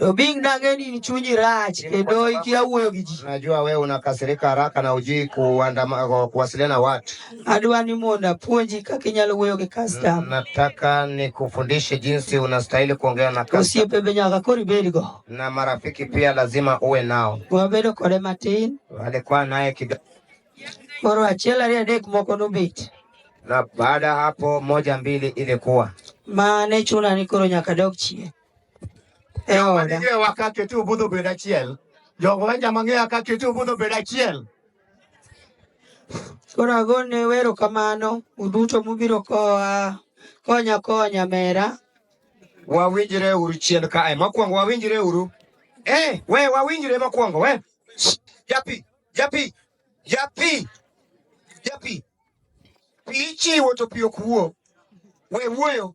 Obing, nang'e ni chunyi rach kendo ikia wuoyo gi ji. Najua wewe unakasirika haraka na ujui kuandama kuwasiliana watu. Adwa ni mondo apuonji kaka inyalo wuoyo gi customer. Nataka nikufundishe jinsi unastahili kuongea na customer. Osiepe be nyaka koro ibed go. Na marafiki pia lazima uwe nao. Wabedo kode matin. Alikuwa naye kidogo. Koro achiel ariyo adek moko nobet. Na baada hapo moja mbili ilikuwa. Mane chuna ni koro nyaka dog chien. e oda. Jowa ka ketu budho bedo achiel. Jogo wanja mang'eya ka ketu budho bedo achiel. Koro agone wero kamano uduto mubiro koa konya konya mera. Wawinjre uru chien kae. Mokwongo wawinjre uru. Eh, we wawinjre mokwongo we. Shh, Japi, japi, japi, japi. Pi ichiwo to pi ok wuo. We wuoyo.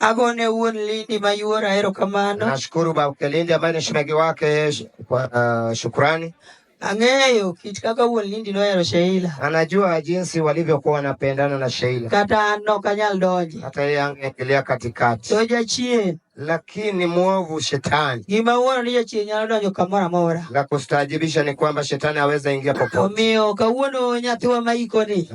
Agone wuon Lindi mayuor ahero kamano. Nashukuru Baba Lindi ambaye ni shemegi wake kwa uh, shukrani. Ang'eyo kit kaka wuon Lindi nohero Sheila. Anajua jinsi walivyokuwa wanapendana na Sheila. Kata an ok anyal donje. Hata yeye angeingilia katikati. To jachien lakini mwovu shetani gima wuono ni jachien nyalo donjo kamoro amora. La kustaajibisha ni kwamba shetani aweza ingia popote. Omiyo kawuono nyathiwa maikoni